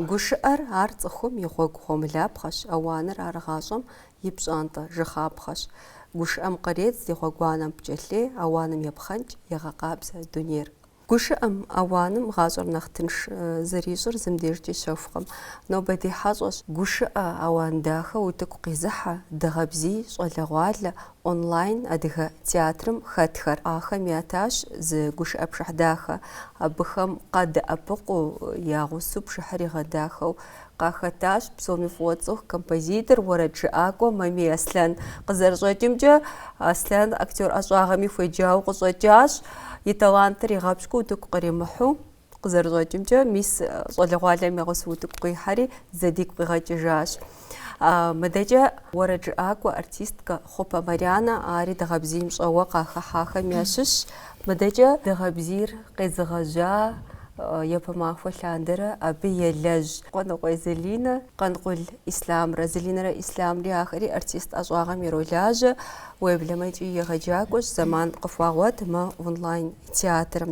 Гушыӏэр ар цӏыхум и гъуэгу гъуэмылапхъэщ, ауаныр ар гъащӏэм и пщӏантӏэ жыхапхъэщ. Гушыӏэм къредз ди гъуэгуанэм пкӏэлъей, ауаным епхъэнкӏ, егъэкъабзэ дунейр. Гушыӏэм, ауаным гъащӏэр нэхъ тынш зэрищӏыр зым дежкӏи щэхукъым. Нобэ ди хьэщӏэщ гушыӏэ, ауан дахэ, утыку къизыхьэ, дыгъэбзий, щӏалэгъуалэ, онлайн адыгэ театрым хэтхэр. Ахэм ятащ зы гушыӏэ пшыхь дахэ. Абыхэм къадэӏэпыкъуу, я гъусэу пшыхьыр игъэдахэу Къахэтащ псоми фӏыуэ тцӏыху композитор, уэрэджыӏакӏуэ Мамий Аслъэн. Къызэрыщӏэкӏымкӏэ, Аслъэн актер ӏэщӏагъэми хуеджауэ къыщӏэкӏащ. И талантыр игъэпщкӏуу утыку къримыхьу, къызэрыщӏэкӏымкӏэ, мис щӏалэгъуалэм я гъусэу утыку къихьэри, зэ дигу къигъэкӏыжащ. Мыдэкӏэ уэрэджыӏакӏуэ, артисткэ Хъупэ Марянэ ари дыгъэбзийм щӏэуэ къахыхьахэм ящыщщ. Мыдэкӏэ дыгъэбзийр Къезыгъэжьа япэ махуэ лъандэрэ абы елэжь Къуэныкъуей Залинэ, Къанкъул Ислъамрэ, Залинэрэ Ислъамри ахэри артист ӏэщӏагъэм иролажьэ, уеблэмэ икӏи егъэджакӏуэщ, зэман къыхуагъуэт мы онлайн-театрым.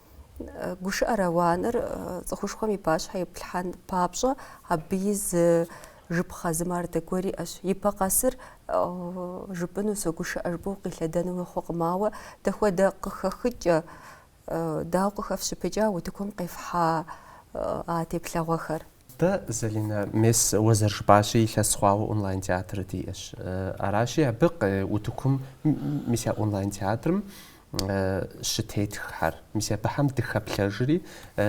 Гушыӏэр ауаныр цӏыхушхуэм и пащхьэ иплъхьэн папщӏэ абы и зы жыпхъэ зы мардэ гуэр иӏэщ. Ипэ къэсыр жыпӏыну согушыӏэ жыпӏэу укъилъэдэну хъукъым, ауэ дэхуэдэ къыхэхыкӏэ, дауэ къыхэфщыпыкӏа утыкум къефхьа а теплъэгъуэхэр? Дэ, Залинэ, мес уэ зэрыжыпӏащи, илъэс хъуауэ онлайн-театр диӏэщ. Аращи, абы утыкум, мис а онлайн-театрым щытетххэр, мис абыхьэм дыхэплъэжри,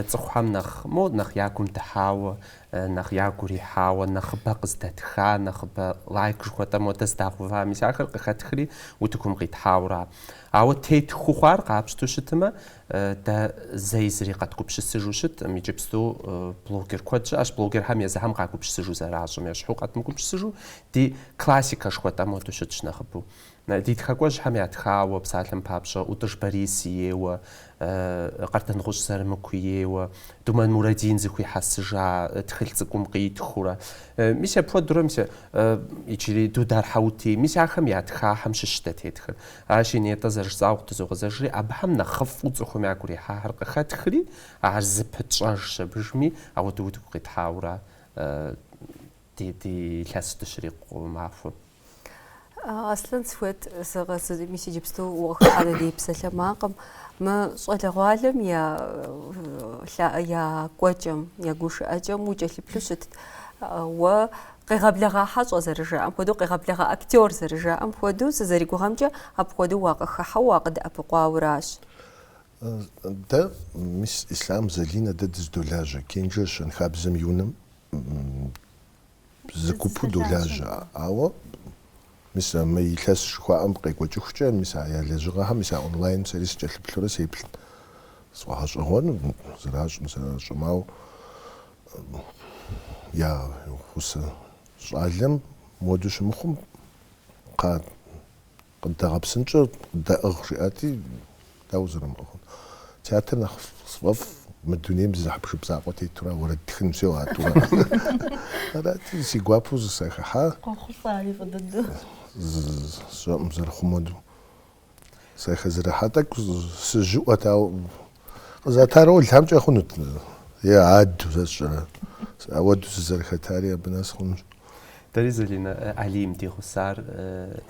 цӏыхухэм нэхъ, мо, нэхъ я гум дыхьауэ, нэхъ я гу ирихьауэ, нэхъыбэ къыздэтха, нэхъыбэ лайк жыхуэтӏэ модэ здагъува, мис ахэр къыхэтхри утыкум къитхьауэра. Ауэ тетху хъуар къапщту щытымэ, Дэ зэи зыри къэдгупщысыжу щыткъым, иджыпсту блогер куэд щыӏэщ, блогерхэм езыхэм къагупщысыжу зэращӏым ещхьу къэдмыгупщысыжу, ди классикэ жыхуэтӏэ моду щытщ нэхъыбэу. Ди тхакӏуэжьхэм ятхауэ, псалъэм папщӏэ, ӏутӏыж Борис ейуэ, Къардэнгъущӏ Зырамыку ейуэ, Думэн Мурадин зыхуихьэсыжа тхылъ цӏыкӏум къитхыурэ, мис апхуэдурэ, мис иджыри Дудар Хьэутий, мис ахэм ятхахьэм щыщ дэ тетхыр. Аращи нетӏэ зэрыжысӏауэ къытызогъэзэжри, абыхэм нэхъыфӏу цӏыхум я гурихьэхэр къыхэтхри, ар зы пытщӏэжщ абыжми, ауэдэ утыку къитхьаура ди илъэс дыщрикъу махуэм. Аслъэн сыхуейт, сэ къэс мис иджыпсту укъыхыхьэну ди псалъэмакъым, мы щӏалэгъуалэм я кӏуэкӏэм, я гушыӏэкӏэм укӏэлъыплъу щытт, уэ Къегъэблэгъа хьэщӏэ зэрыжаӏэм хуэдэу, къегъэблэгъа актер зэрыжаӏэм хуэдэу, сызэригугъэмкӏэ, апхуэдэу уакъыхыхьэу, уакъыдэӏэпыкъуауэращ. Дэ, мис Ислъам, Залинэ, дэ дыздолажьэ. Кенжэ щэнхабзэм и унэм зы гупу долажьэ. Ауэ, мис а мы илъэс жыхуаӏэм къекӏуэкӏыхукӏэ, мис а я лэжьыгъэхэм, мис а онлайным сэри сыкӏэлъыплъурэ сеплъ. Сфӏэгъэщӏэгъуэну, зэращӏым зэращӏым, ауэ я гъусэ щӏалэм моду щымыхъум кхъа къыддэгъэпсынкӏэ къыддэӏыгъ жиӏати, дауэ зэрымыӏыгъын. Театр нэхъ сфӏэфӏ, мы дунейм зы хьэпшып закъуэ тетура уэрэд тхын всё, а тӏура. Арати, си гуапэу сахыхьа. Къохъулӏэ ари фӏы дыдэу. Сщӏэӏым зэрыхъу моду. Сахэзэрыхьа тӏэкӏу сыжьыӏуэт, ауэ къызата ролымкӏэ хъунут, е адэу, сэ сщӏэрэ. Ауэду сызэрыхэтари абы нэс хъунущ. Дэри Залинэ Алим ди гъусар.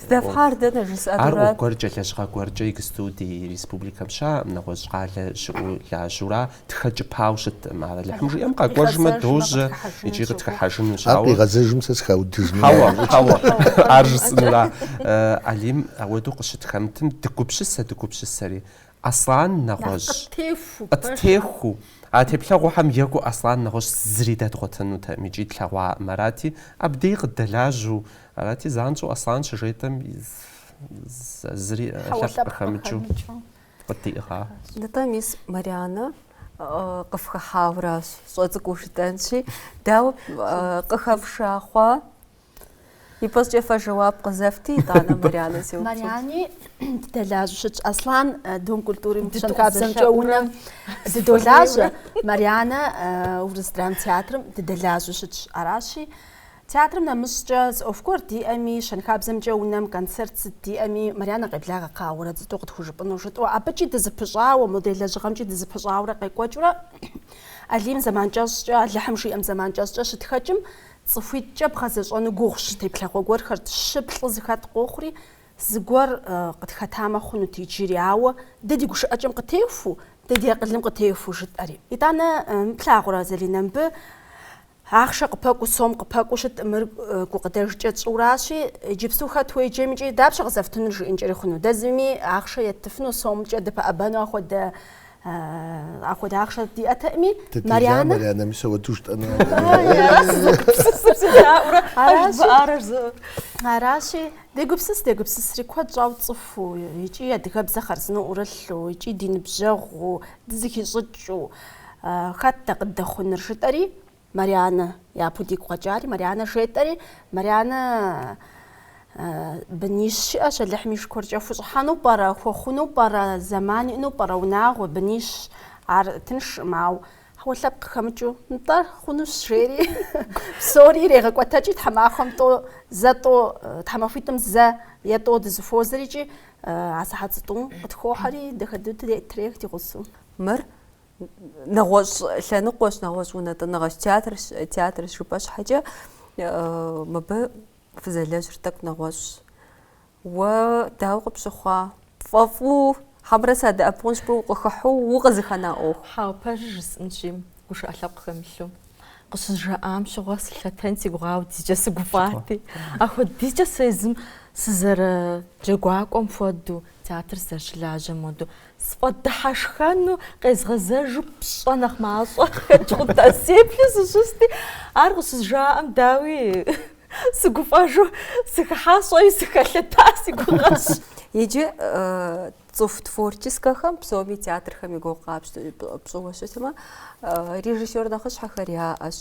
Здэфхьар дэнэ жысӏэнура? Ар ӏуэху гуэркӏэ, лэжьыгъэ гуэркӏэ иджыпсту ди республикэм щыӏэӏым, нэгъуэщӏ къалэ щыӏэу лажьэура. тхэкӏыпауэ щыткъым ар Алыхьым жиӏэм къэкӏуэжмэ дожьэ икӏи къытхыхьэжынущ. Ар къигъэзэжым сэ сыхаудыжмэ. Хьэуэ, хьэуэ, ар жысӏэнура? Алим, ауэдэу къыщытхэмытым дыгупсысэ, дыгупсысэри. Аслан нэгъуэщӏ. Къыттеху. Къыттеху. А теплъэгъухэм екӏуу Аслан нэгъуэщӏ зыри дэдгъуэтынутэкъым икӏи тлъэгъуакъым арати, абдеи къыддэлажьэу, арати, занщӏэу Аслан щыжетӏэм зыри лъэпкъ къыхэмыкӏыу. къыддиӏыгъа. Нтӏэ, мис Марианэ къыфхыхьауращ, щӏэ цӏыкӏуу жытӏэнщи, дауэ къыхэфша хъуа? Ипэщӏыкӏэ фэ жэуап къызэфти, итӏанэ Марианэ сеупщӏ. Мариани дыдэлажьэу щытщ Аслан Дом культуры щэнхабзэмкӏэ унэм дыдолажьэ. Марианэ Урыс драм театрым дыдэлажьэу щытщ. Аращи, Театрым нэмыщӏкӏэ зы ӏуэху гуэр диӏэми, щэнхабзэмкӏэ унэм концерт сыт диӏэми, Марьянэ къеблагъэ кхъа уэрэд зытӏу къытхужыпӏыну, жытӏэу, абыкӏи дызыпыщӏауэ, модель лэжьыгъэмкӏи дызыпыщӏауэрэ къекӏуэкӏыурэ Алим зэман кӏэщӏкӏэ, Алыхьым жиӏэм зэман кӏэщӏкӏэ щытхэкӏым, цӏыхуитӏкӏэ бгъэзэщӏэну гугъущ теплъэгъуэ гуэрхэр, щы плӏы зыхэт къохъури, зыгуэр къытхэтамэ хъунут иджыри, ауэ дэ ди гушыӏэкӏэм къытехуу, дэ ди акъылым къытехуу жытӏэри. Итӏанэ, плъагъурэ, Залинэ, мыбы Ахъшэ къыпэкӏуу сом къыпэкӏуу щыткъым, мыр гукъыдэжкӏэ тщӏыуращи, иджыпсту хэт уеджэмикӏи, дапщэ къызэфтынур жиӏэнкӏэри хъуну? Дэ зыми ахъшэ еттыфыну сомкӏэ дыпэӏэбэну ахуэдэ ахуэдэ ахъшэ диӏэтэкъыми, Марянэ. Аращи, дегупсыс, дегупсысри куэд щӏауэ цӏыхуу икӏи адыгэбзэ хъарзынэу ӏурылъу, икӏи ди ныбжьэгъуу, дызыхищӏыкӏыу, Хэт дэ къыддэхъуныр? жытӏэри, Марианэ япэу дигу къэкӏари, Марианэ жетӏэри, Марианэ бынищ иӏэщ, Алыхьым и шыкуркӏэ, хущӏыхьэну пӏэрэ, хуэхъуну пӏэрэ, зэман иӏэну пӏэрэ, унагъуэ, бынищ, ар тыншкъым, ауэ хьэуэ лъэпкъ къыхэмыкӏыу, нтӏэ, хъунущ, жери, псори ирегъэкӏуэтэкӏи, тхьэмахуэм тӏо, зэ тӏо, тхьэмахуитӏым зэ е тӏо дызэхуозэрикӏи, а сыхьэт зытӏум къытхохьэри, дахэду трех ди гъусэу. Мыр нэгъуэщӏ лъэныкъуэщ, нэгъуэщӏ унэтӏыныгъэщ, театрщ, театрщ жыпӏэ щхьэкӏэ мыбы фызэлэжьыр тӏэкӏу нэгъуэщӏщ. Уэ дауэ къыпщыхъуа? Пфӏэфӏу хьэмрэ садэӏэпыкъунщ жыпӏэу укъыхыхьэу укъызыхэна ӏуэху. Хьэуэ, пэжыр жысӏынщи, гушыӏэ лъэпкъ хэмылъу. Къыщызжаӏам щыгъуэ сылъэтэн си гугъа, ахуэдизкӏэ сыгуфӏати. Ахуэдизкӏэ сэ езым сызэрыджэгуакӏуэм хуэдэу, театр сызэрыщылажьэм хуэдэу, сфӏэдыхьэшхэну къезгъэзэжу пщӏэ нэхъ мащӏэ къыхэкӏ хъунт, сеплъу сыщысти, ар къыщызжаӏэм, дауи, сыгуфӏэжу сыхыхьащ, щӏэи сыхэлъэта си гугъэщ. Иджы Цӏыху творческэхэм псоми театрхэм и гугъу къапщтэ пщӏыуэ щытмэ, режиссер нэхъыщхьэхэр яӏэщ,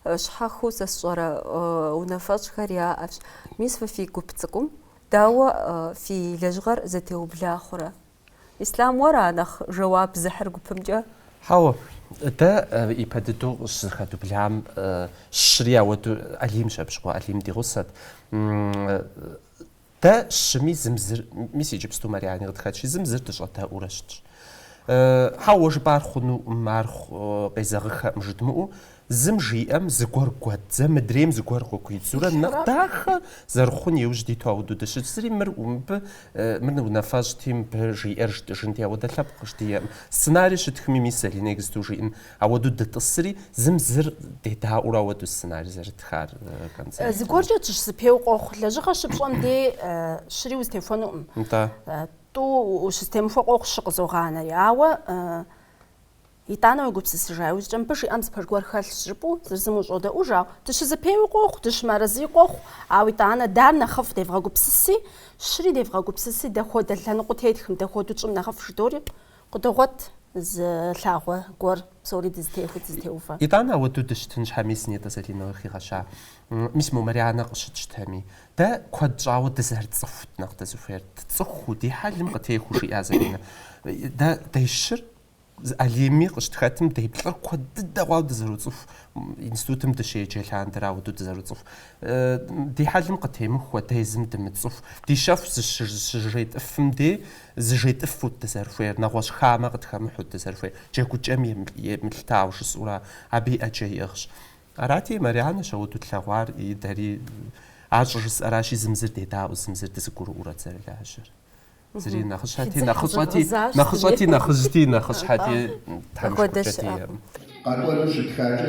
щхьэхыу сэ сщӏэрэ унафэщӏхэр яӏэщ. Мис фэ фи гуп цӏыкӏум дауэ фи лэжьыгъэр зэтеубла хъурэ? Ислъам, уэра нэхъ жэуап зыхьыр гупымкӏэ? Хьэуэ, дэ ипэ дыдэу къыщызэхэдублам щыри ауэду Алимщ абы щыгъуэ, Алим ди гъусэт. Дэ щыми зым зыр, мис иджыпсту Мариани къытхэтщи, зым зыр дыщӏэдэӏуурэ щытщ. Хьэуэ, уэ жыпӏар хъунукъым, ар къезэгъыхэкъым жыдмыӏэу, зым жиӏэм зыгуэр гуэдзэ, мыдрейм зыгуэр къыхуидзурэ, нэхъ дахэ зэрыхъун иужь диту ауэду дыщытщ. Зыри мыр мыбы, мыр унафэщӏти, мыбы жиӏэр жытӏыжынти, ауэдэ лъэпкъ щыдиӏэкъым. Сценарий щытхми, мис Залинэ иджыпсту жиӏэн. Ауэду дытӏысри, зым зыр дедаӏуэурэ ауэду сценарий зэрытхар концертым. Зыгуэркӏэ дыщызэпеуэ къохъу. Лэжьыгъэ щыпщӏэм дей щыри узэтехуэнукъым. Нтӏэ. Тӏу ущызэтемыхуэ къохъу щы къызогъанэри. Ауэ итӏанэ уегупсысыжа иужькӏэ мыбы жиӏэм зы пэж гуэр хэлъщ жыпӏэу зыр зым ущӏодэӏуж, ауэ дыщызэпеуи къохъу, дыщымыарэзыи къохъу. Ауэ итӏанэ дэра нэхъыфӏ девгъэгупсыси, щыри девгъэгупсыси, дэхуэдэ лъэныкъуэ тетхым, дэхуэдэу тщӏым нэхъыфӏ жыдори Къыдогъуэт зы лъагъуэ гуэр, псори дызытехуэу, дызытеувэ. Итӏанэ ауэдэу дыщытын щхьэ, мис нетӏэ Залинэ къыхигъэща мис мо Марянэ къыщытщтэми, дэ куэд щӏауэ дызэрыцӏыхут нэхъ дызыхуейр, дцӏыхуу, ди хьэлым къытехуэу, жиӏа Залинэ. Дэ дещыр Алими къыщытхэтым, деплӏыр куэд дыдэ хъуауэ дызэроцӏыху, институтым дыщеджэ лъандэрэ ауэдэу дызэроцӏыху. Ди хьэлым къытемыхуэ, дэ езым дымыцӏыху, ди щэху зыщыжетӏыфым дей, Зыжетӏыфут дызэрыхуейр, нэгъуэщӏ хамэ къытхэмыхьут дызэрыхуейр, джэгукӏэм емылъытауэ жысӏэурэ, абыи ӏэджэ иӏыгъщ. Арати, Марянэщ ауэдэу тлъэгъуар и дэри ар щӏыжысӏэращи, зым зыр дедаӏуэу, зым зыр дызыгурыӏуэурэ дызэрылажьэр. Зыри нэхъыщхьэти, нэхъыщӏэти, нэхъыжьти, нэхъыщхьэти, Тхьэм и шыкуркӏэ диӏэкъым. Къэкӏуэну щытхакӏэ,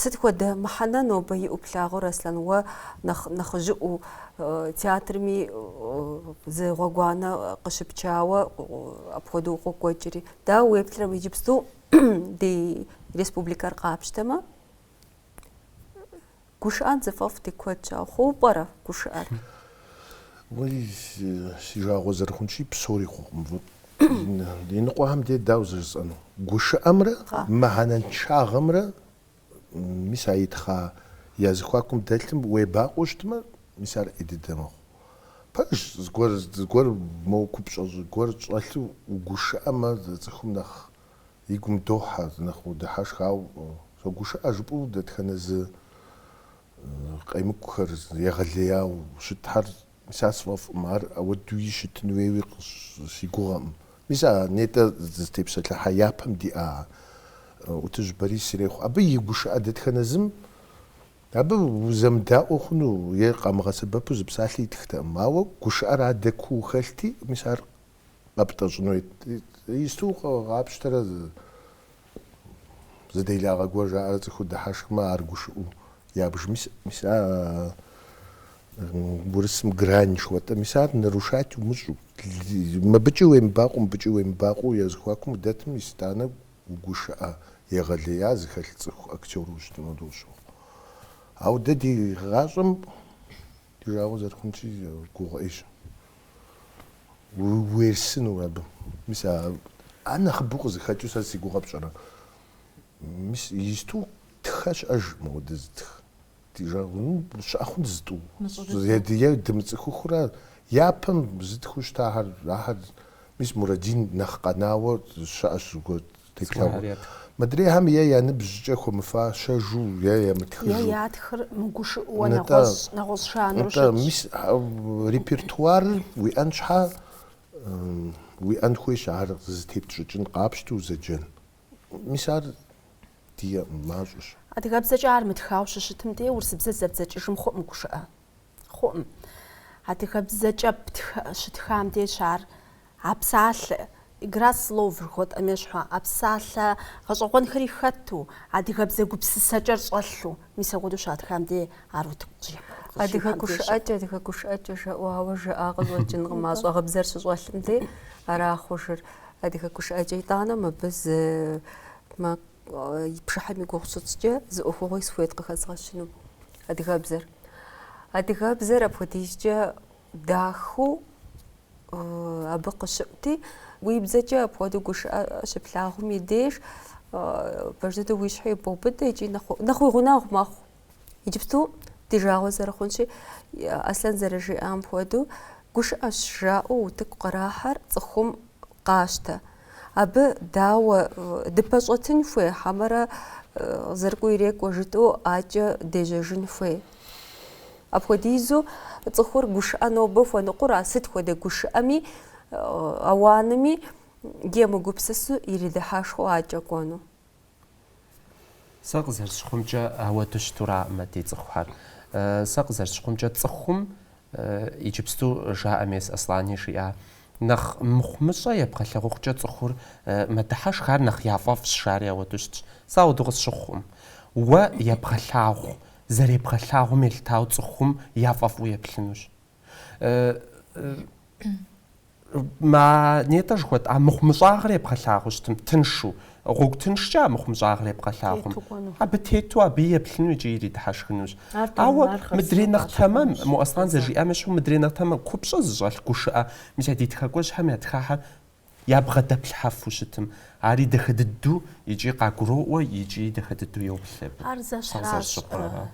Сыт хуэдэ мыхьэнэ нобэ иӏэу плъагъур, Аслъэн, уэ нэхъыжьыӏуэу театрми зы гъуэгуанэ къыщыпчауэ апхуэдэу укъокӏуэкӏри. Дауэ уеплърэ иджыпсту ди республикэр къапщтэмэ? Гушыӏэн зыфӏэфӏ ди куэдщ, ауэ хъуу пӏэрэ гушыӏэр? Уей, си жагъуэ зэрыхъунщи, псори хъукъым. Иныкъуэхэм де дауэ зыжысӏэну? Гушыӏэмрэ мыхьэнэншагъэмрэ, мис а итхъа я зыхуакум дэлъым уебакъуэу щытмэ, мис ар ӏей дыдэ мэхъу. Пэж зыгуэр, зыгуэр моуэ купщӏэ, зыгуэр щӏэлъу угушыӏэмэ, зы цӏыхум нэхъ и гум дохьэ, нэхъ удыхьэшх. Ауэ согушыӏэ жыпӏэу дэтхэнэ зы къемыкӏухэр егъэлеяуэ щытхэр, мис ар сфӏэфӏкъым, ар ауэдууи щытын хуейуи си гугъэкъым. Мис а нетӏэ дызытепсэлъыхьа япэм диӏа ӏутӏыж Борис ирехъу абы и гушыӏэ дэтхэнэ зым абы узэмыдаӏуэ хъуну е къамыгъэсэбэпу зы псалъи итхтэкъым. Ауэ гушыӏэр адэ куу хэлъти, мис ар къэптӏэщӏыну исту къапщтэрэ зы делагъэ гуэр жаӏэрэ цӏыхур дыхьэшхмэ ар гушыӏэу ябж мис мис а урысым грань жыхуэтӏэ мис ар нарушать умыщӏу мыбыкӏи уемыбакъу мыбыкӏи уемыбакъу я зыхуакум удэтым мис итӏанэ гушыӏэ егъэлея зыхэлъ цӏыху актёр ущытыну дощӏыгъу ауэ дэ ди гъащӏэм Жагъуэ зэрыхъунщи гугъу ӏейщ уерсыну абы. Мис ар нэхъыбэу къызыхэкӏыу сэ си гугъэ пщӏэрэ? Мис исту тхэ щыӏэж мыуэдэ зытх. Ди жагъуэ щыӏэ хъунт зытӏу. Е дымыцӏыхухэрэ япэм зытхыу щытахэр ахэр мис Мурадин нэхъ къэнауэ щыӏэщ зыгуэр Теплъэгъуэ. Мыдрейхэм е я ныбжькӏэ хуэмыфащэжу е ямытхыжу. Е ятхыр мыгушыӏэу нэгъуэщӏ жанру щытщ. Нтӏэ, мис репертуарыр уиӏэн щхьэ, уиӏэн хуейщ ар зытепщӏыкӏын къапщту зэджэн. Мис ар ди мащӏэщ. Адыгэбзэкӏэ ар мытхауэ щыщытым дей урысыбзэ зэбдзэкӏыжым хъуӏым гушыӏэ. Хъуӏым. Адыгэбзэкӏэ щытхам деж ар а псалъэ, игра слов жыхуэтӏэм ещхьу, а псалъэ гъэщӏэгъуэнхэри хэту, адыгэбзэ гупсысэкӏэр щӏэлъу. Мис апхуэдэу щатхам де ар утыку къыщӏихьэ. Адыгэ гушыӏэкӏэ, адыгэ гушыӏэкӏэ жаӏэу ауэ жаӏа къыщӏэкӏынкъым, а щӏэгъыбзэр щыщӏэлъым де ара хъужыр. Адыгэ гушыӏэкӏэ. Итӏанэ мыбы зы Пшыхьэм и гугъу щытщӏкӏэ зы ӏуэхугъуи сыхуейт къыхэзгъэщыну. Адыгэбзэр. Адыгэбзэр апхуэдизкӏэ дахэу абы къыщыӏути, уи бзэкӏэ апхуэдэу гушыӏэ щыплъагъум и деж пэж дыдэу уи щхьэ ибоубыдэ икӏи нэхъ уи гъунэгъу мэхъу. Иджыпсту ди жагъуэ зэрыхъунщи, Аслъэн зэрыжиӏам хуэдэу, гушыӏэщ жаӏэу утыку кърахьэр цӏыхум къащтэ. Абы дауэ дыпэщӏэтын хуей хьэмэрэ зэрыкӏуэ ирекӏуэ жытӏэу адэкӏэ дежьэжын хуей. Апхуэдизу цӏыхур гушыӏэ нобэ хуэныкъуэра, сыт хуэдэ гушыӏэми, ауанми емыгупсысу иридыхьэшхуэу адэкӏэ кӏуэну. Сэ къызэрысщыхъумкӏэ ауэду щытураӏым а ди цӏыхухэр. Сэ къызэрысщыхъумкӏэ цӏыхум, иджыпсту жаӏэм ес Аслъэни жиӏа, нэхъ мыхъумыщӏэ ебгъэлъэгъухукӏэ цӏыхур мэдыхьэшх, ар нэхъ яфӏэфӏщ, жари ауэду щытщ. Сэ ауэду къысщыхъуӏым. Уэ ебгъэлъагъу, зэребгъэлъагъум елъытауэ цӏыхум яфӏэфӏу еплъынущ. А нетӏэ жыхуэтӏа мыхъумыщӏагъэр ебгъэлъагъуу щытым, тыншу, гъуэгу тыншкӏэ а мыхъумыщӏагъэр ебгъэлъагъум. Тету кӏуэну. Абы тету абы еплъыну икӏи иридыхьэшхынущ. Ар тэмэмар Ауэ хъарзынэу мыдрей нэхъ тэмэм, къащыхъунущ. мо Аслъэн зэжиӏам ещхьу, мыдрей нэхъ тэмэм, купщӏэ зыщӏэлъ гушыӏэ, мис а ди тхакӏуэжьхэм ятхахэр ябгъэдэплъхьэфу щытым, ари дахэ дыдэу икӏи къагуроӏуэ икӏи дахэ дыдэу йоплъ абы. Ар Сэ зэщхьащ. къызэрысщыхъуар.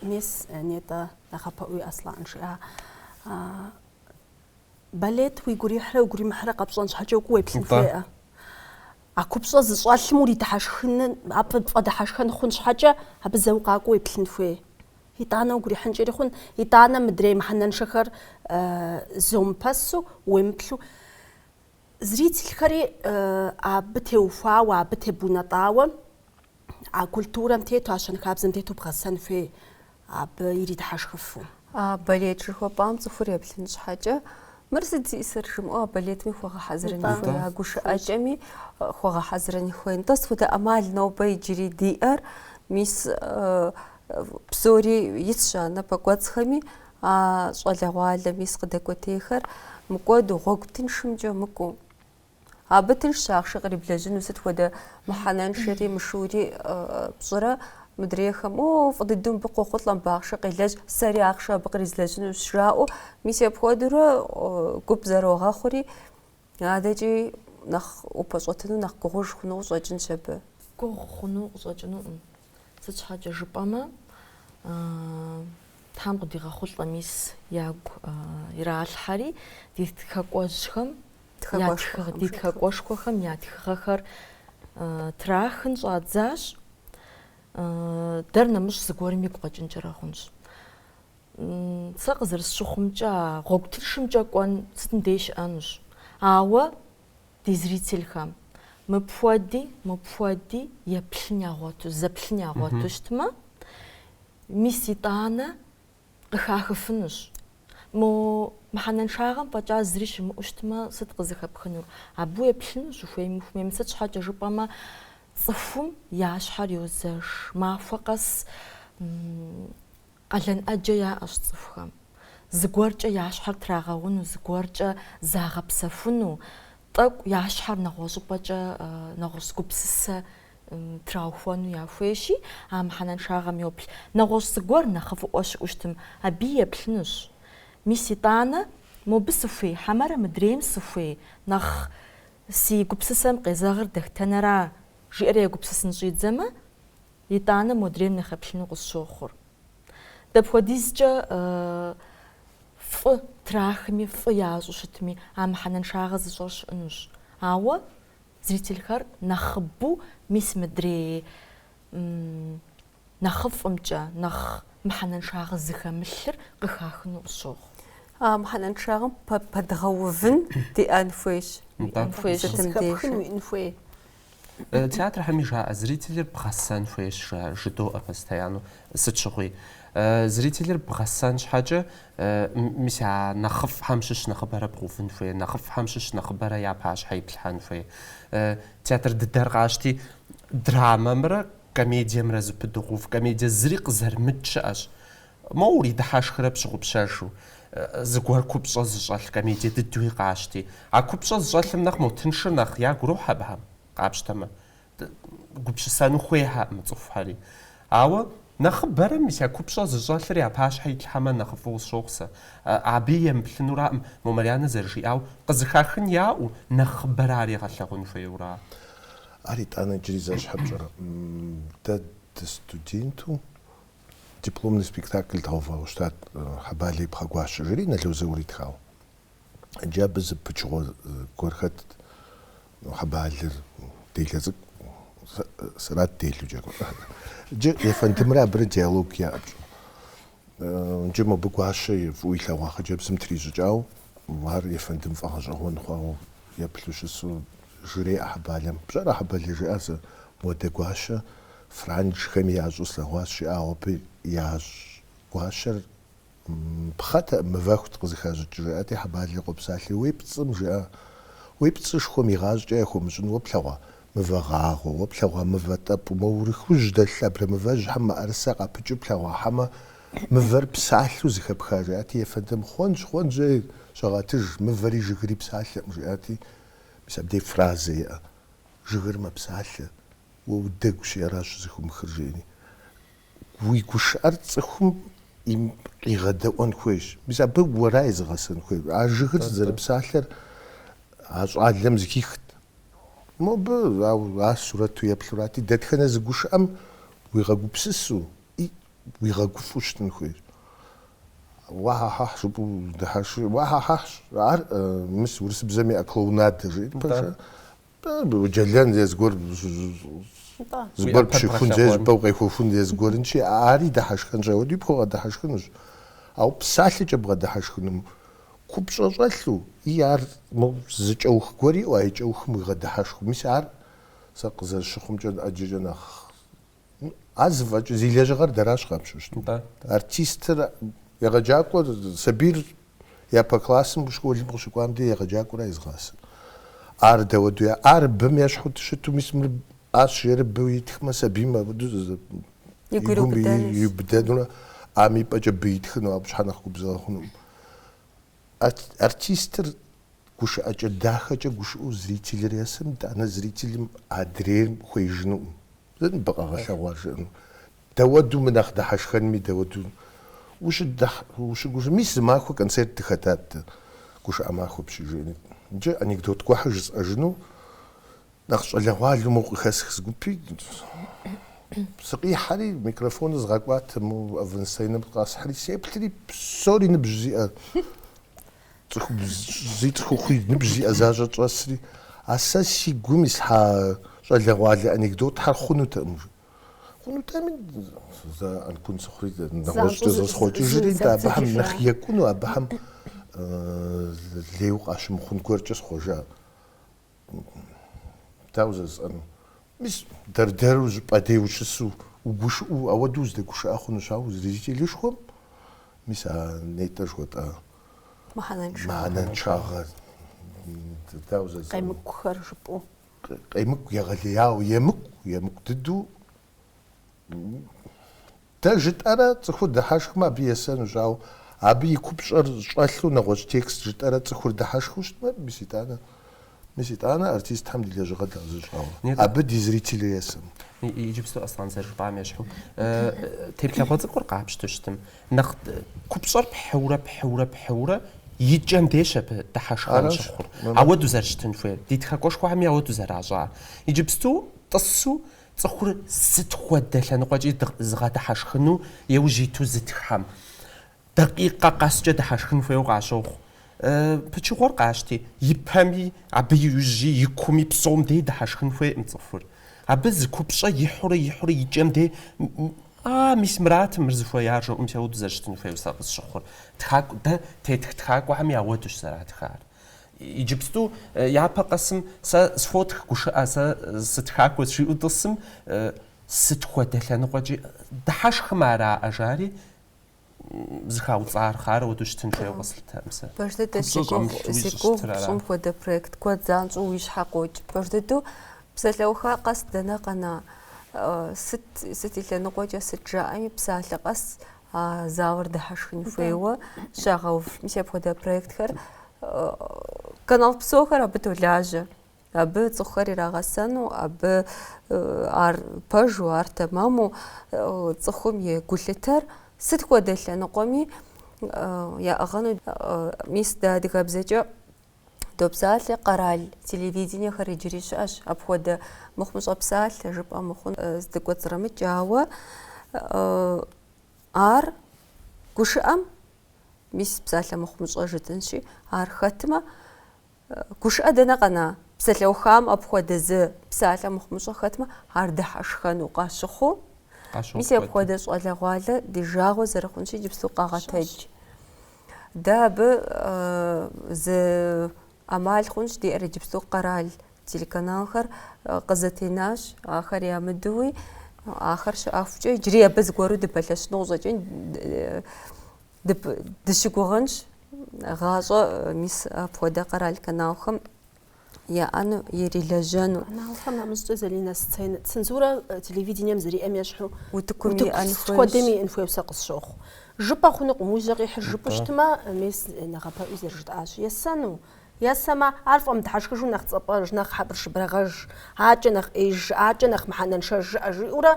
Мис, нетӏэ, нэхъапэӏуи Аслъэн жиӏа. Балет уигу ирихьрэ уигу иримыхьрэ къэпщӏэн щхьэкӏэ укӏуэу уеплъын хуеӏэ. А купщӏэ зыщӏэлъым уридыхьэшхын, абы пфӏэдыхьэшхэн хъун щхьэкӏэ, абы зэ укъакӏуэу уеплъын хуей. Итӏанэ уигу ирихьынкӏэри хъун, итӏанэ мыдрей мыхьэнэншэхэр э, зомыпэсу, уемыплъу. Зрительхэри э, абы теухуауэ, абы тебунэтӏауэ, А культурэм тету, а щэнхабзэм тету бгъэсэн хуей, абы иридыхьэшхыфу. А балет жыхуэпӏам цӏыхур еплъын щхьэкӏэ, мыр сыт зиӏисыр жымыӏэу а балетми хуэгъэхьэзырын хуей, а гушыӏэкӏэми э, хуэгъэхьэзырын хуей. Нтӏэ сыт хуэдэ ӏэмал нобэ иджыри диӏэр? Мис э, э, псори исщ а напэкӏуэцӏхэми, а щӏалэгъуалэ мис къыдэкӏуэтейхэр. Мыкӏуэду, гъуэгу тыншымкӏэ мыкӏуэу. Абы тыншщ ахъшэ къриблэжьыну, сыт хуэдэ мыхьэнэншэри, мышыури пщӏырэ, мыдрейхэм, о, фӏы дыдэу мыбы къохъулӏэ, мыбы ахъшэ къелэжь, сэри ахъшэ абы къризлэжьынущ, жаӏэу, мис апхуэдэурэ гуп зэрогъэхъури, адэкӏи нэхъ упэщӏэтыну, нэхъ гугъуж хъуну къыщӏэкӏынщ абы. Гугъу хъуну къыщӏэкӏынукъым. Сыт щхьэкӏэ жыпӏэмэ, Тхьэм къыдигъэхъулӏэ мис ягу иралъхьэри, ди тхакӏуэжьхэм я тхыгъ, ди тхакӏуэшхуэхэм я тхыгъэхэр трахын щӏадзащ. Дэр нэмыщӏ зыгуэрым игу къэкӏынкӏэрэ хъунщ. Сэ къызэрысщыхъумкӏэ, а гъуэгу тыншымкӏэ кӏуэн сытым дей щыӏэнущ. Ауэ ди зрительхэм мыпхуэди, мыпхуэди еплъын ягъуэту, зэплъын ягъуэту щытмэ, мис итӏанэ Къыхахыфынущ. Мо мыхьэнэншагъэм фӏэкӏа зыри щымыӏэу щытмэ, сыт къызыхэпхынур? Абы уеплъынущ, ухуейми ухуэмейми. Сыт щхьэкӏэ жыпӏэмэ, цӏыхум я щхьэр йозэш. Махуэ къэс къалэн ӏэджэ яӏэщ цӏыхухэм. Зыгуэркӏэ я щхьэр трагъэуну, зыгуэркӏэ загъэпсэхуну. Тӏэкӏу я щхьэр нэгъуэщӏыпӏэкӏэ нэгъуэщӏ гупсысэ траухуэну яхуейщи, а мыхьэнэншагъэм йоплъ. Нэгъуэщӏ зыгуэр нэхъыфӏыӏуэ щыӏэу щытым, абы еплъынущ. Мис итӏанэ, мобы сыхуей, хьэмэрэ мыдрейм сыхуей, нэхъ си гупсысэм къезэгъыр Дэхтэнэра? жиӏэрэ егупсысын щӏидзэмэ, Итӏанэ модрейм нэхъ еплъыну къысщохъур. Дапхуэдизкӏэ фӏы трахми, фӏы ящӏу щытми, а мыхьэнэншагъэ зыщӏэр щыӏынущ. Ауэ зрительхэр нэхъыбэу мис мыдрей нэхъыфӏымкӏэ, нэхъ мыхьэнэншагъэ зыхэмылъыр къыхахыну къысщохъу. А мыхьэнэншагъэм пэдгъэувын диӏэн хуейщ. Сытым деж. Зыхэпхын уиӏэн хуей. Театрхэми жаӏэ, зрителыр бгъэсэн хуейщ, жыдоӏэ постоянно. Сыт щыгъуи, зрителыр бгъэсэн щхьэкӏэ, мис я нэхъыфӏхэм щыщ нэхъыбэрэ бгъэувын хуей, нэхъыфӏхэм щыщ нэхъыбэрэ я пащхьэ иплъхьэн хуей. Театр дыдэр къащти, драмэмрэ комедиемрэ зыпыдыгъув, комедие зыри къызэрымыт щыӏэщ. Моуэ уридыхьэшхрэ пщыгъупщэжу, зыгуэр купщӏэ зыщӏэлъ комедие дыдуи къащти. А купщӏэ зыщӏэлъым нэхъ мо тыншыр нэхъ ягу ирохь абыхэм, къапщтэмэ. Гупсысэну хуейхьэӏым цӏыхухэри. Ауэ нэхъыбэрэ мис а купщӏэ зыщӏэлъыр я пащхьэ итлъхьэмэ нэхъ фӏыуэ къысщохъу сэ. Абы емыплъынураӏым, мо Марьянэ зэрыжиӏау, къызыхахын яӏэу, нэхъыбэрэ ар егъэлъэгъун хуейура? Ар итӏанэ иджыри зэщхьэ пщӏэрэ? Дэ дыстуденту Дипломный спектакль дгъэувауэ щытат Хьэбалэ и пхъэгуащэ жыри Нало Заур итхауэ. Иджы абы зы пычыгъуэ гуэр хэтт, Хьэбалэр, делэ цӏыкӏу, сэрат делу джэгур. Иджы ефэндымрэ абырэ диалог яӏэ, пщӏэ. Иджы мобы гуащэ фӏыуэ илъэгъуа хъыджэбзым трищӏыкӏау, ар ефэндым фӏэгъэщӏэгъуэн хъуауэ еплъу щысу жреӏэ Хьэбалэм. Пщӏэрэ Хьэбалэ жиӏэри зэ модэ гуащэ Франджхэми ящӏу слъэгъуащ жиӏэ, ауэ абы ящӏ гуащэр пхъэтэкъым, мывэхут къызыхащӏыкӏ, жиӏэти, Хьэбалли къопсалъи, Уи пцӏым жиӏэ, уи пцӏышхуэм игъащӏэкӏэ яхуэмыщӏын уэ плъэгъуа мывэ гъагъэу, уэ плъэгъуа мывэ тӏэпӏу, мо Урыхужь дэлъ абрэмывэжьхэм мыӏэрысэ къапыкӏыу плъэгъуахьэмэ, мывэр псалъэу зыхэпха, жиӏэти, ефэндым, Хъуэнщ, хъуэнщ, ей, щыгъэтыж, мывэри жыгыри псалъэкъым, жиӏэти, мис абдей фразэ иӏэ, Жыгыр мэпсалъэ. Уэ удэгущи аращ щӏызыхыумыхыр, жери. Уи гушыӏэр цӏыхум къигъэдэӏуэн хуейщ. Мис абы уэра езыгъэсэн хуейр? А жыгыр зэрыпсалъэр а щӏалэм зыхихт. Мобы, ауэ ар сурэту еплъурати, дэтхэнэ зы гушыӏэм уигъэгупсысу, и, уигъэгуфӏу щытын хуейщ. Уа-хьэ-хьэхь, жыпӏэу дыхьэши, уа-хьэ-хьэхьщ, ар, мис, урысыбзэм иӏэ клоунадэ, жери пэжа. Бэу джэлэн е зыгуэр зыгуэр пщыхун жыпӏэу къехуэхун е зыгуэрынщи ари дыхьэшхэнщ ауэди пхуэгъэдыхьэшхынущ ауэ псалъэкӏэ бгъэдыхьэшхыным купщӏэ щӏэлъу и ар мо зы кӏэух гуэр иӏу а и кӏэухым уигъэдыхьэшху мис ар сэ къызэрыщыхъумкӏэ ӏэджэкӏэ нэхъ Ар зыфӏэкӏ, зи лэжьыгъэр дэращ къапщту щытмэ. Да, да. Артистыр, егъэджакӏуэр, сабийр япэ классым, школым къыщыкӏуам де егъэджакӏуэра езыгъасэ. Ар дауэду я, ар бым ещхьу щыту, мис мыр ащ жери быу итхмэ, сабийм ауэду зы- И гур игум и- иубыдэнущ. иубыдэнурэ, ам и пӏэкӏэ бы итхыну, абы щхьэ нэхъ губзыгъэ хъунукъым. Артистыр гушыӏэкӏэ дахэкӏэ гушыӏэу зрителыр есым, итӏанэ зрителым адрейр хуеижынукъым, зы ныбэ къэгъэлъагъуэ жиӏэну. Дауэду мы нэхъ дыхьэшхэнми дауэду ущыгушыӏэ. Мис зы махуэ концерт дыхэтат дэ, гушыӏэ махуэ пщӏэжыни. Иджы анекдот гуэрхьэр жысӏэжыну. Нэхъ щӏалэгъуалэу моуэ къыхэсх зы гупи, сыкъихьэри, микрофоныр згъэкӏуат, мы авансценэм къасхьэри, сеплъри, псори ныбжь зиӏэ, цӏыхубзи цӏыхухъуи ныбжь зиӏэ защӏэт щӏэсри, А сэ си гум ислъхьа щӏалэгъуалэ анекдотхьэр хъунутэкъым, жи. Хъунутэми, зэ ӏэнкун сыхъури, нэгъуэщӏкӏэ зэсхъуэкӏыжри, нтӏэ, абыхэм нэхъ екӏуну, абыхэм лейуэ къащымыхъун гуэркӏэ схъуэжа. Дауэ жысӏэну? Мис дэр-дэру зыпӏэ дей ущысу, угушыӏэу, ауэдэу узэдэгушыӏэ хъунущ, ауэ зрителышхуэм, мис а нетӏэ жыхуэтӏа Мыхьэнэншагъэ. мыхьэнэншагъэ, дауэ жысӏэну? Къемыкӏухэр жыпӏэу. Къемыкӏу егъэлеяуэ, емыкӏу, емыкӏу дыдэу, Дэ жытӏэрэ цӏыхур дыхьэшхмэ абы есэнущ, ауэ абы и купщӏэр щӏэлъу нэгъуэщӏ текст жытӏэрэ цӏыхур дыхьэшхыу щытмэ, мис итӏанэ, мис итӏанэ артистхэм ди лэжьыгъэр дгъэзэщӏауэ абы ди зрителыр есэнут. Иджыпсту Аслъэн зэрыжыпӏам ещхьу, теплъэгъуэ цӏыкӏур къапщтэу щытым, нэхъ купщӏэр пхьыурэ, пхьыурэ, пхьыурэ икӏэм деж абы дыхьэшхэн щыхъур, ауэду зэрыщытын хуейр, ди тхакӏуэшхуэхэми ауэду зэращӏар. Иджыпсту тӏысу Цӏыхур сыт хуэдэ лъэныкъуэкӏи зыгъэдыхьэшхыну еужь иту зытххэм, дакъикъэ къэскӏэ дыхьэшхын хуейуэ къащохъу. Пычыгъуэр къащти, и пэми, абы иужьи, и кууми, псом дей дыхьэшхын хуейкъым цӏыхур. Абы зы купщӏэ ихьурэ ихьурэ и кӏэм дей, А, мис мыратым мыр зыхуеяр, жаӏэу ауэду зэрыщытын хуейуэ сэ къысщыхъур. Тхакӏу, дэ тетх тхакӏуэхэми ауэдущ зэратхар. Иджыпсту япэ къэсым сэ схуотх гушыӏэ, сэ сытхакӏуэщ жиӏэу тӏысым, сыт хуэдэ лъэныкъуэкӏи дыхьэшхым ара жари, зыхауцӏэрхъар ауэду щытын хуейуэ къэслъытэркъым сэ. Пэж дыдэ Купщӏэ зи гугъу, щӏэмылъуи зи щӏыщытыр гугъу ара? пщӏым хуэдэ проект куэд занщӏэу уи щхьэ къокӏ. Пэж дыдэу псалъэуха къэс дэнэ къэна? Э, Сыт, сыт и лъэныкъуэкӏэ сыт жаӏэми, псалъэ къэс а залыр дыхьэшхын хуейуэ щагъэув. Мис апхуэдэ проектхэр канал псохэр абы толажьэ. Абы цӏыхухэр ирагъэсэну, абы ар пэжу, ар тэмэму цӏыхум и гулъытэр сыт хуэдэ лъэныкъуэми яӏыгъыну мис дэ адыгэбзэкӏэ Допсалъэ, къэрал телевидениехэр иджыри щыӏэщ, апхуэдэ мыхъумыщӏэ псалъэ жыпӏэ мыхъун здыкӏуэцӏрымыкӏ, ауэ ар гушыӏэм мис псалъэ мыхъумыщӏэ жытӏэнщи, ар хэтмэ, гушыӏэ дэнэ къэна? Псалъэухам апхуэдэ зы псалъэ мыхъумыщӏэ хэтмэ, ар дыхьэшхэну къащыхъуу, мис апхуэдэ щӏалэгъуалэ ди жагъуэ зэрыхъунщи, иджыпсту къагъэтэдж. Дэ абы зы ӏэмал хъунщ диӏэр. Иджыпсту къэрал телеканалхэр къызэтенащ, ахэр ямыдэуи, ахэр щыӏэхукӏэ иджыри абы зыгуэру дыпэлъэщыну къыщӏэкӏын дыщыгугъынщ, гъащӏэ мис апхуэдэ къэрал каналхэм яӏэну, ирилэжьэну. Каналхэм нэмыщӏкӏэ, Залинэ, сценэ, цензурэ телевидением зэриӏэм ещхьу Утыкум утыку иӏэн хуейщ. сыт хуэдэми иӏэн хуейуэ сэ къысщохъу. Жыпӏэ хъунукъым, уи жьэ къихьыр жыпӏэу Атӏэ. щытмэ, мес нэхъапэӏуи зэрыжытӏащи, есэну. Есэмэ, ар фӏэмыдхьэшхыжу нэхъ цӏэпӏэж, нэхъ хьэбыршыбырагъэж, аркӏэ нэхъ ӏеиж жыӏэ, аркӏэ нэхъ мыхьэнэншэж жыӏэ, жиӏэурэ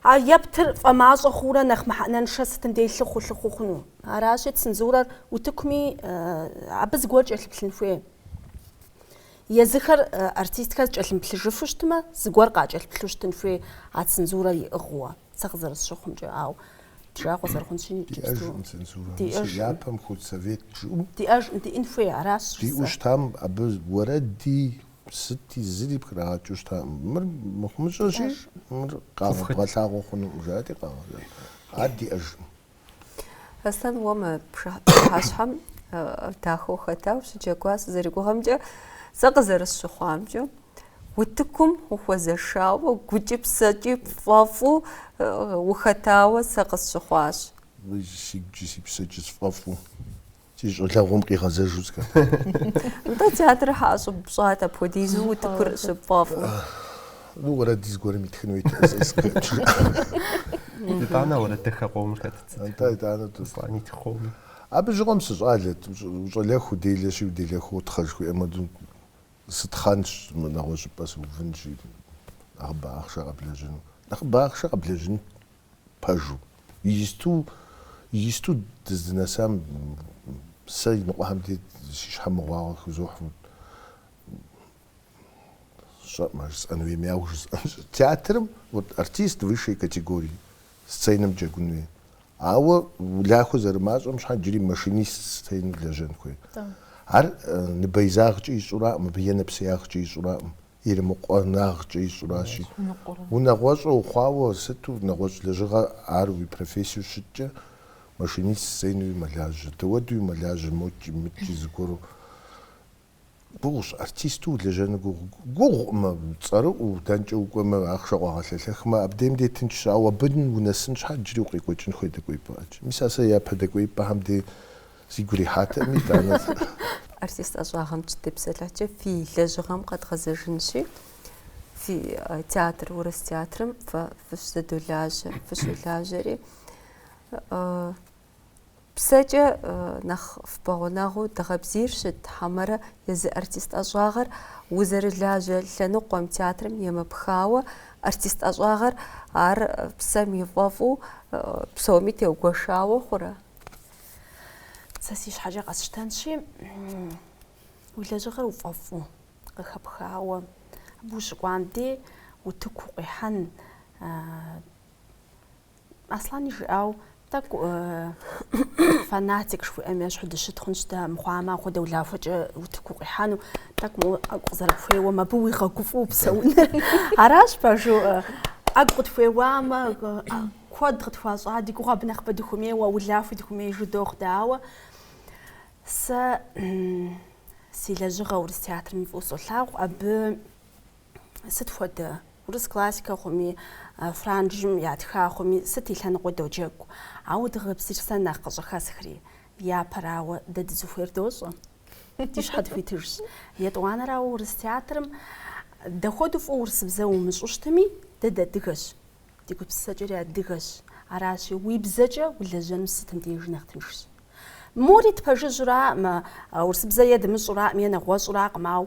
а ептыр фӏэмащӏэ хъуурэ нэхъ мыхьэнэншэ сытым дей лъыхъуэу-лъыхъуэу хъуну. Аращи, цензурэр утыкуми абы зыгуэр кӏэлъыплъын хуей. Езыхэр артистхэр кӏэлъымплъыжыфу щытмэ, зыгуэр къакӏэлъыплъу щытын хуей а цензурэр иӏыгъыуэ, сэ къызэрысщыхъумкӏэ, ауэ ди жагъуэ зэрыхъунщи иджыпсту. Диӏэжкъым цензурэ. Диӏэж. Япэм худсовет жыӏэу. Диӏэжкъым, диӏэн хуей, аращ. Диӏэу щытам абы уэрэди, сыти, зыри пхрагъэкӏыу щытакъым. Мыр мыхъумыщӏэщи, мыр къэбгъэлъагъуэ хъунукъым, жаӏэти къагъэлъагъуэ. Ар диӏэжкъым. Аслъэн уэ мы пшыхьэщхьэм дахэу ухэтауэ щыджэгуа сызэригугъэмкӏэ сэ къызэрысщыхъуамкӏэ утыкум ухуэзэшауэ гукӏи псэкӏи пфӏэфӏу ухэтауэ сэ къысщыхъуащ. Си гукӏи си псэкӏи сфӏэфӏу. Си щӏалэгъуэм къигъэзэжу сыхэтт. Нтӏэ, театрыр щхьэ ӏэщӏыб пщӏат, апхуэдизу утыкур щыпфӏэфӏу. Ну, уэрэд зыгуэрым итхын хуейтэ, сэ сыкъеплъыжа. Итӏанэ уэрэд дахэ къомыр хэт? Нтӏэ, итӏанэ тӏут. Аслъэн итх къомыр. Абы щыгъуэм сыщӏалэт, ущӏалэху уделэщи, уделэху утхъэ жыхуиӏэм хуэдэу, сытхъэнщ, мы нэгъуэщӏыпӏэ сыувынщи, нэхъыбэ ахъшэ къэблэжьыну. Нэхъыбэ ахъшэ къэблэжьынт. пэжу. Иджысту, иджысту дыздынэсам сэ иныкъуэхэм дей си щхьэ мыгъуагъэ хузохь. Сщӏэӏым ар жысӏэн хуейми, ауэ жысӏэнщ. Театрым вот артист высшей категории, сценэм джэгун хуей. Ауэ улахуэ зэрымащӏэм щхьэкӏэ джыри машинист сценэу лэжьэн хуей. Ар ныбэизагъкӏэ ищӏураӏым, мыбы е нэпсеягъкӏэ ищӏураӏым. Ирымыкъуэнагъкӏэ ищӏуращи. Унагъуэщӏэ ухъуауэ сыту нэгъуэщӏ лэжьыгъэ ар уи профессиэу щыткӏэ, машинист сценэуи мэлажьэ. Дауэдуи мэлажьэ мокӏи, мыкӏи зыгуэру. Гугъущ, артисту улэжьэну гугъу. Гугъукъымэ, цӏэрыӏуэу, дэнкӏэ укӏуэмэ, ахъшэ къуагъэлъэлъэхмэ, абдейм дей тыншщ, ауэ абы унэсын щхьэ иджыри укъекӏуэкӏын хуей дэкӏуеипӏэ ӏэджи. Мис а сэ япэ дэкӏуеипӏэхэм дей Сигу ирихьатэми, итӏанэ. Артист ӏэщӏагъэм щытепсэлъыхькӏэ фи лэжьыгъэм къэдгъэзэжынщи, фи театр, урыс театрым фэ фыщызэдолажьэ, фыщолажьэри, псэкӏэ нэхъ фпэгъунэгъуу дыгъэбзийр щыт хьэмэрэ езы артист ӏэщӏагъэр узэрылажьэ лъэныкъуэм, театрым емыпхауэ, артист ӏэщӏагъэр ар псэм и фӏэфӏу псоми теугуэшауэ хъурэ? Сэ си щхьэкӏэ къэсщтэнщи, уи лэжьыгъэр уфӏэфӏу, къыхэпхауэ, абы ущыкӏуам дей утыку укъихьэн. Аслъани жиӏау, тӏэкӏу фанатик жыхуиӏэм ещхьу дыщыт хъунщ дэ, мыхъуамэ апхуэдэ улахуэкӏэ утыку укъихьэну, тӏэкӏу моуэ ӏэгу къызэрыпхуеуэм абы уигъэгуфӏу упсэуныр. Аращ пэжу ӏэгу къытхуеуамэ, Куэд къытхуащӏа, ди гугъэ абы нэхъыбэ дыхумейуэ, улахуи дыхумеижу дохъу дэ, ауэ сэ си лэжьыгъэ урыс театрыми фӏыу солъагъу, абы сыт хуэдэ урыс классикэ хъуми, франджым ятха хъуми, сыт и лъэныкъуи доджэгу. Ауэ дыгъэбзийр сэ нэхъ къыщӏыхэсхри, япэрауэ, дэ дызыхуейр дощӏэ, ди щхьэ дыхуитыжщ. Етӏуанэрауэ урыс театрым дапхуэдэу фӏыуэ урысыбзэ умыщӏу щытми, дэ дыадыгэщ, Ди гупсысэкӏэри адыгэщ, аращи, уи бзэкӏэ улэжьэнур сытым дежи нэхъ тыншщ. Мори тпэжыжьуракъым, урысыбзэ е дымыщӏуракъым е нэгъуэщӏуракъым, ау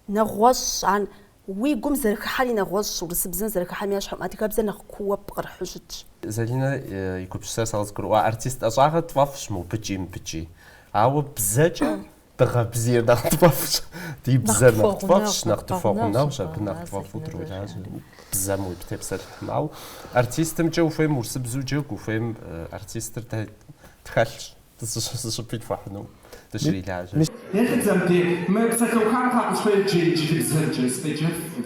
нэгъуэщӏщ ар, уи гум зэрыхыхьэри нэгъуэщӏщ, урысыбзэм зэрыхыхьэм ещхькъым, адыгэбзэр нэхъ кууэ пкърыхьу щытщ. Залинэ и гупсысэр сэ къызгурыӏуа артист ӏэщӏагъэр тфӏэфӏщ мобыкӏи мыбыкӏи, ауэ бзэкӏэ Дыгъэ бзийр нэхъ тфӏэфӏщ, ди бзэр нэхъ тфӏэфӏщ, нэхъ тпэгъунэгъущ, абы нэхъ тфӏэфӏу дролажьэ. Бзэм утепсэлъыхьым. Ауэ артистымкӏэ ухуейм урысыбзу джэгу, ухуейм артистыр дэ тхэлъщ, дэ зыщӏыпӏи тхуэхьыну, дыщрилажьэ. Ехыдзэм де, мы псалъэухам папӏущхьэ еджэр инджылыбзэкӏэ, стеджэффыр.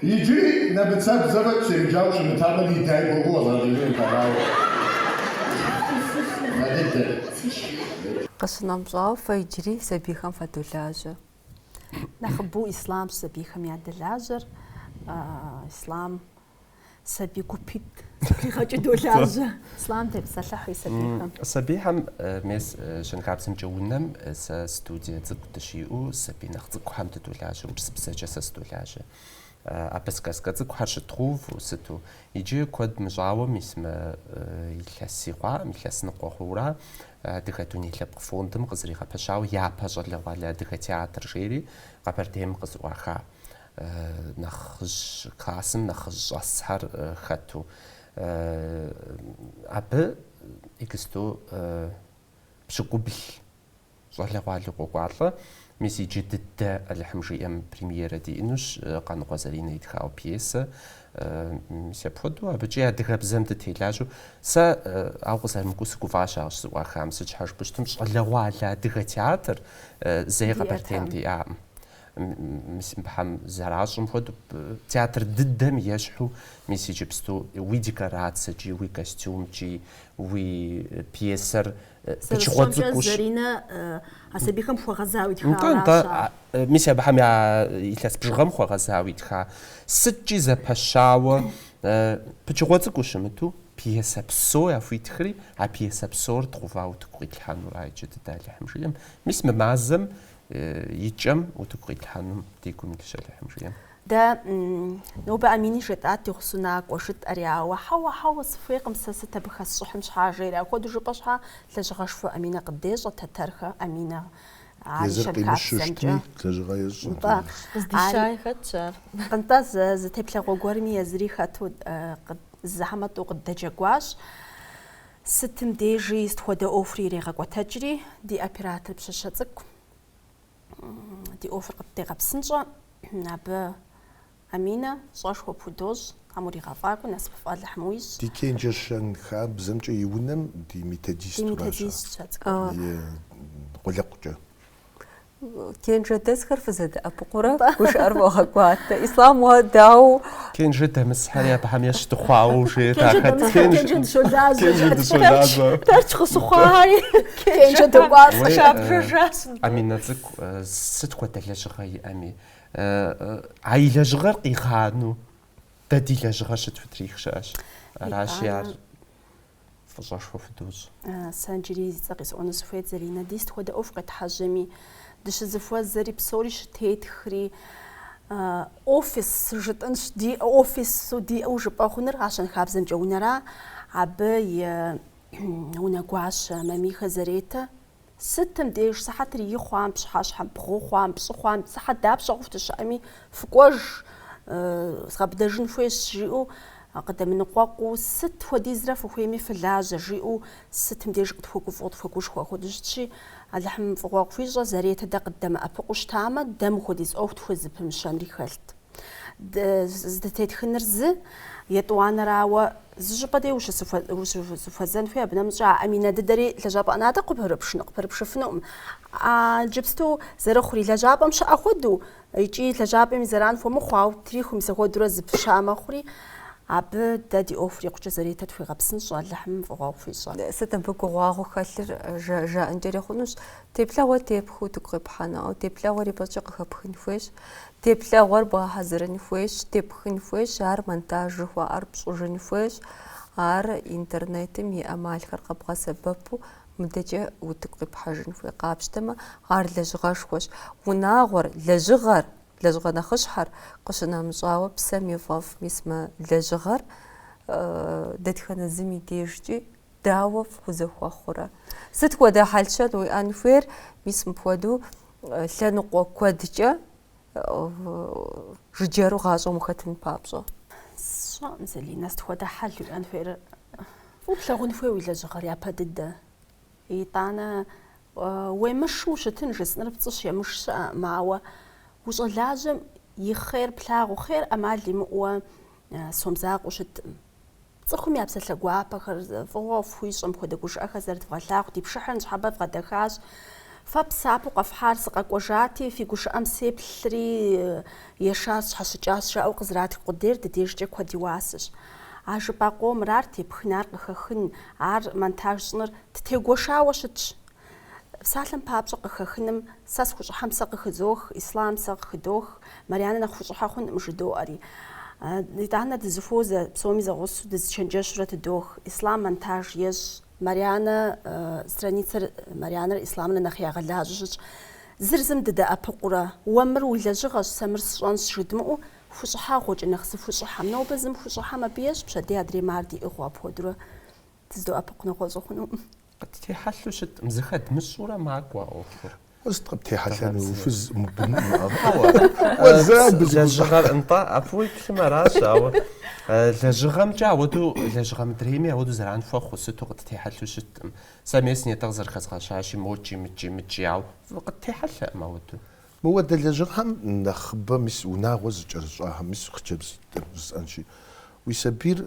Иджыри нэмыцэбзэмэ псэуджауэ щымытамэ, ди дяй гугъуу къэзгъэкӏыжынут, арауэ нэ дыдэт. Къыщынэмщӏауэ, фэ иджыри сабийхэм фадолажьэ. Нэхъыбэу Ислъамщ сабийхэм ядэлажьэр. Ислъам сабий гупитӏ Къигъэкӏи долажьэ. Ислъам, тепсэлъыхь уи сабийхэм. Сабийхэм мес щэнхабзэмкӏэ унэм сэ студие цӏыкӏу дыщиӏэу сабий нэхъ цӏыкӏухэм дыдолажьэ, урысыбзэкӏэ сэ сыдолажьэ. Абы сказка цӏыкӏухэр щыдгъэуву сыту. Иджы куэд мыщӏауэ мис мы илъэси хъуакъым, илъэс ныкъуэ хъуура Адыгэ дуней лъэпкъ фондым къызэригъэпэщауэ Япэ щӏалэгъуалэ адыгэ театр жери Къэбэрдейм къызэӏуаха нэхъыжь классым нэхъыжь щӏэсхэр хэту. Абы иджысту пщыкӏубл щӏалэгъуали къокӏуалӏэ. Мис иджы дыдэ Алыхьым жиӏэм премьерэ диӏынущ Къаныкъуэ Заринэ итхауэ пьесэ. Мис апхуэдэу абыкӏи адыгэбзэм дытелажьэу. Сэ, ауэ къызэрымыкӏуэу, сыгуфӏащ ар щызэӏуахам. Сыт щхьэ жыпӏэ щытым, щӏалэгъуалэ адыгэ театр зэи Къэбэрдейм диӏакъым. Мис абыхэм зэращӏым хуэдэу, театр дыдэм ещхьу, мис иджыпсту уи декорацэкӏи, уи костюмкӏи, уи пьесэр пычыгъуэ цӏыкӏущ. Зэрысщӏэмкӏэ, Заринэ а сабийхэм хуэгъэзауэ итхауэ аращ ар. Нтӏэ, мис абыхэм я илъэс бжыгъэм хуэгъэзауэ итха. Сыткӏи зэпэщауэ, пычыгъуэ цӏыкӏуу щымыту, пьесэ псо яхуитхри, а пьесэ псор дгъэувауэ утыку къитлъхьэнура иджы дыдэ Алыхьым жиӏэм. Мис мы мазэм и кӏэм утыку къитлъхьэнум ди гум илъщ, Алыхьым жиӏэм. Дэ нобэ Амини жетӏат ди гъусэу накӏуэ, жытӏэри, ауэ, Хьэуэ, хьэуэ, сыхуейкъым сэ сыт абы хэсщӏыхьын щхьа, жери. Апхуэдэу жыпӏэ щхьа, лэжьыгъэшхуэ Аминэ къыддещӏэ, Тэтэрхэ Аминэ ар и Езыр щэнхабзэмкӏэ. къимыщыщтми, лэжьыгъэ ещӏэ. Нтӏэ. Къыздищай хэтщ ар. Нтӏэ, зы, зы теплъэгъуэ гуэрми езыри хэту, зы зэ хьэмэ тӏэу къыддэджэгуащ. Сытым дежи сыт хуэдэ ӏуэхури ирегъэкӏуэтэкӏри, ди оператор пщащэ цӏыкӏу ди ӏуэхур къыддегъэпсынщӏэ, абы Аминэ фӏыщӏэшхуэ пхудощӏ, Тхьэм уригъэфӏакӏуэ, насыпыфӏ Алыхьым уищӏ. Ди Кенджэ щэнхабзэмкӏэ и унэм ди методистуращ ар. Ди методистщ а цӏыкӏур. И къулыкъукӏэ. Кенжэдэсхэр фызэдэӏэпыкъурэ гушыӏэр фогъэкӏуатэ. Ислам уэ дау? Кенжэ дэмысхэри абыхэм ещхь дыхъуауэ жеет. Кенжэ дыщолажьэ. Тэрч къыщыхъуари. Кенжэ докӏуалӏэ. Щабжыжащ. Аминэ цӏыкӏу сыт хуэдэ лэжьыгъэ иӏэми, а и лэжьыгъэр къигъанэу дэ ди лэжьыгъэр щытхутрих щыӏэщ. Аращи ар фӏыщӏэшхуэ худощӏ. Сэ иджыри зи цӏэ къисӏуэну сыхуейт, Заринэ, ди сыт хуэдэ ӏуэху къетхьэжьэми, дыщызэхуэзэри псори щытетхри, офис жытӏэнщ, ди офису диӏэу жыпӏэ хъуныр а щэнхабзэмкӏэ унэра, абы и унэгуащэ Мамихэ Заретэ Сытым деж сыхьэтыр и хъуам, пщыхьэщхьэм бгъу хъуам, пщӏы хъуам, сыхьэт дапщэ хъуху дыщыӏэми, фыкӏуэж, згъэбыдэжын хуейщ, жиӏэу къыдэмыныкъуэкъуу, сыт хуэдизрэ фыхуейми фылажьэ, жиӏэу сытым деж къытхуэгуфӏэу, къытхуэгушхуэу апхуэдэу щытщи, Алыхьым фӏыгъуэ къыхуищӏэ, Заретэ дэ къыддэмыӏэпыкъуу щытамэ, дэ мыхуэдиз ӏуэху тхузэпымыщэнри хэлът. Здытетхыныр зы, етӏуанэрауэ, зы щӏыпӏэ дей ущызэхуэзэн хуей, абы нэмыщӏ а Аминэ дыдэри лэжьапӏэ ӏэнатӏэ къыпэрыпшыфынукъым. Иджыпсту зэрыхъури, лэжьапӏэм щыӏэ хуэдэу икӏи лэжьапӏэм и зэран хуэмыхъу, ауэ трихум мис ахуэдурэ зэпыща мэхъури, абы дэ ди ӏуэхур икъукӏэ Зэретэ тхуегъэпсынщӏэ, Алыхьым фӏыгъуэ хуищӏэ. Сыт абы гугъуагъуэ хэлъыр жаӏэнкӏэри хъунущ. Теплъэгъуэр тепхыу утыку къипхьэну, теплъэгъуэр ипэкӏэ къыхэпхын хуейщ, теплъэгъуэр бгъэхьэзырын хуейщ, тепхын хуейщ, ар монтаж жыхуаӏэр пщӏыжын хуейщ, ар интернетым и ӏэмалхэр къэбгъэсэбэпу мыдэкӏэ утыку къипхьэжын хуей къапщтэмэ, ар лэжьыгъэшхуэщ. Унагъуэр, лэжьыгъэр, лэжьыгъэ нэхъыщхьэр къыщынэмыщӏауэ псэм и фӏэфӏ мис мы лэжьыгъэр дэтхэнэ зым и дежкӏи Дауэ фхузэхуэхъурэ? Сыт хуэдэ хьэлщэн уиӏэн хуейр? Мис мыпхуэдэу лъэныкъуэ куэдкӏэ жыджэру гъащӏэм ухэтын папщӏэ. Сщӏэӏым, Залинэ, сыт хуэдэ хьэл уиӏэн хуейр? Фӏыуэ плъагъун хуей уи лэжьыгъэр япэ дыдэ. Итӏанэ уемышу ущытын жысӏэныр пцӏыщ емыш щыӏэкъым, ауэ ущӏалажьэм и хъер плъагъу, хъер ӏэмал имыӏуэ сом закъуэу щыткъым. Цӏыхум я псалъэ гуапэхэр, фӏыгъуэ фхуищӏэм хуэдэ гушыӏэхэр зэрыдвгъэлъагъу ди пшыхьыр ныщхьэбэ вгъэдэхащ. Фэ псапэу къэфхьар сыкъэкӏуэжати, фи гушыӏэм сеплъри, ешар сщхьэщыкӏащ жаӏэу къызэратх къудейр ди дежкӏэ куэд и уасэщ. А жыпӏа къомыр, ар тепхын, ар къыхэхын, ар монтаж щӏыныр ттегуэшауэ щытщ. Псалъэм папщӏэ къыхэхыным сэ схущӏыхьэм сэ къыхызох, Ислам сэ къыхыдох, Марьянэ нэхъ хущӏыхьэ хъункъым жыдоӏэри. Итӏанэ дызыхуозэ, псоми зэгъусэу дызычэнджэщурэ тыдох, Ислам монтаж ещӏ. Марьянэ страницэр Марьянэрэ Исламрэ нэхъ ягъэлажьэу щытщ. Зыр зым дыдэӏэпыкъурэ, уэ мыр уи лэжьыгъэщ, сэ мыр сщӏэнщ жыдмыӏэу, хущӏыхьэгъуэкӏэ нэхъ зыхущӏыхьэм. Нобэ зым хущӏыхьэм абы ещӏ пщэдей адрейм, ар диӏыгъыу апхуэдэурэ. Дыздоӏэпыкъу нэгъуэщӏу хъунукъым. Къыттехьэлъу щыткъым, зыхэдмыщӏурэ макӏуэ а ӏуэхур. Сыт къыптехьэлъэну, уфыз мыбыну? Лэжьыгъэр, нтӏэ, абы уеплъым аращ, ауэ лэжьыгъэмкӏэ ауэду, лэжьыгъэ мыдрейми ауэду зэран хуэхъу, сыту къыттехьэлъу щыткъым. Сэ мес нетӏэ къызэрыхэзгъэщащи, мокӏи, мыкӏи, мыкӏи, ауэ къыттехьэлъэкъым ауэду. Мыуэдэ лэжьыгъэм нэхъыбэ мис унагъуэ зыкӏэрыщӏахэм, мис хъыджэбз жысӏэнщи, уи сабийр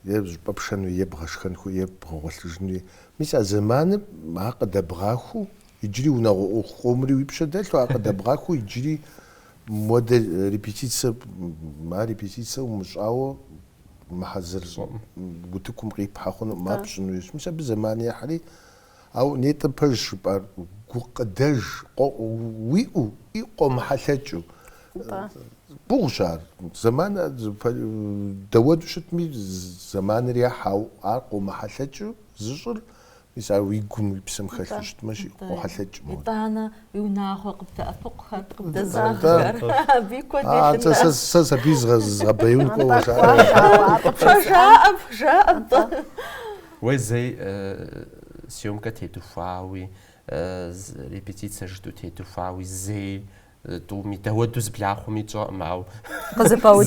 еджапӏэ пшэнуи, е бгъэшхэнуи, е бгъэгъуэлъыжынуи, мис а зэманым ар къыдэбгъахуэу иджыри унагъуэ ӏуэху къомри уи пщэ дэлъу, ар къыдэбгъахуэу иджыри модэ репетицэ, а репетицэ умыщӏауэ мыхьэзыр утыкум къипхьэ хъунукъым, ар пщӏынуи. Мис абы зэман ехьри, Ауэ нетӏэм пэж жыпӏар гукъыдэж уиӏэу, и къомыхьэлъэкӏыу. Гугъущ ар. Зэман дэуэду щытми, зэманыр ехь, ау ар къомыхьэлъэкӏыу зыщӏыр, мис ар уи гум, уи псэм хэлъу щытмэ, жи къохьэлъэкӏ мыгъуэт. Итӏанэ уи унагъуэ къыбдэӏэпыкъухэр, къыбдэзаххэр, абы и куэд елъытэ. Атӏэ, сэ сабий згъэбэяун кӏуэуэ жаӏэ. Жаӏэ, жаӏэ, атӏэ. Уэ зэи съёмкэ тедухуауи, репетицэ жытӏэу тедухуауи, зэи тӏуми, дауэду зэблахъуами тщӏэкъым, ауэ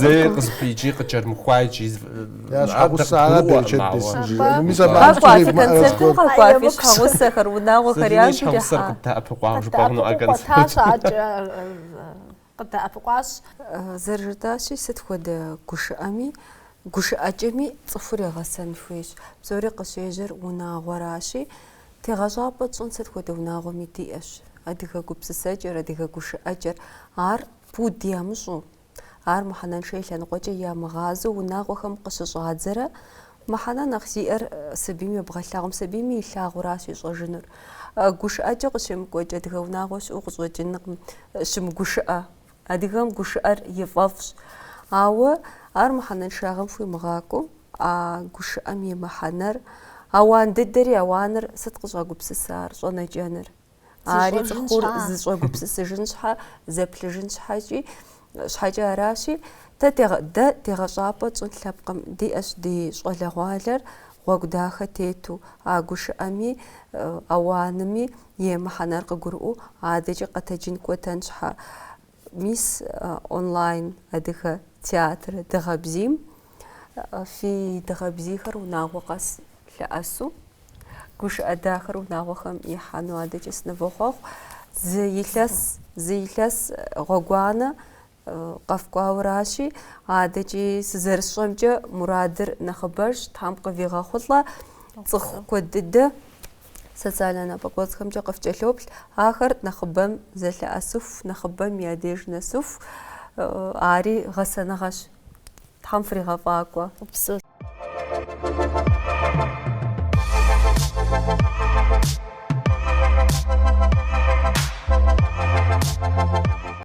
зэи къызыхуи, икӏи къыкӏэрымыхуа, икӏи щхьэгъусэр къыддэӏэпыкъуауэ жыпӏэ хъунукъэ концертым. къыдэӏэпыкъуащ. Зэрыжытӏащи, сыт хуэдэ гушыӏэми, гушыӏэкӏэми цӏыхур егъэсэн хуейщ. Псори къыщежьэр унагъуэращи, тегъэщӏапӏэ тщӏын сыт хуэдэ унагъуэми диӏэщ. Адыгэ гупсысэкӏэр, адыгэ гушыӏэкӏэр, ар пуд ямыщӏу, ар мыхьэнэншэ и лъэныкъуэкӏэ ямыгъазэу унагъуэхэм къыщыщӏадзэрэ Мыхьэнэ нэхъ зиӏэр сабийм ебгъэлъагъум, сабийми илъагъуращ ищӏэжынур. Гушыӏэкӏэ къыщемыкӏуэкӏ адыгэ унагъуэ щыӏэу къыщӏэкӏынкъым, щымыгушыӏэ. Адыгэм гушыӏэр и фӏэфӏщ. Ауэ ар мыхьэнэншагъэм хуимыгъакӏуэу, а гушыӏэм и мыхьэнэр, ауан дыдэри ауаныр сыт къыщӏагупсысар, щӏэнэкӏэныр? Ари цӏыхур зыщӏэгупсысыжын щхьэ, зэплъыжын щхьэкӏи, щхьэкӏэ аращи, дэ дэ тегъэщӏапӏэ тщӏын лъэпкъым, диӏэщ ди щӏалэгъуалэр гъуэгу дахэ тету, а гушыӏэми, ауанми и мыхьэнэр къыгурыӏуэу адэкӏэ къэтэджын кӏуэтэн щхьэ. Мис онлайн адыгэ театр дыгъэ бзийм фи дыгъэ бзийхэр унагъуэ къэс лъэӏэсу, гушыӏэ дахэр унагъуэхэм ихьэну адэкӏэ сынывохъуэхъу. Зы илъэс, зы илъэс гъуэгуанэ къэфкӏуауэращи, адэкӏи сызэрысщӏэмкӏэ мурадыр нэхъыбэжщ, Тхьэм къывигъэхъулӏэ цӏыху куэд дыдэ Социальнэ напӏэкӏуэцӏхэмкӏэ къыфкӏэлъоплъ ахэр нэхъыбэм зэлъэӏэсыху, нэхъыбэм я деж нэсыху, ари гъэсэныгъэщ. Тхьэм фригъэфӏакӏуэ.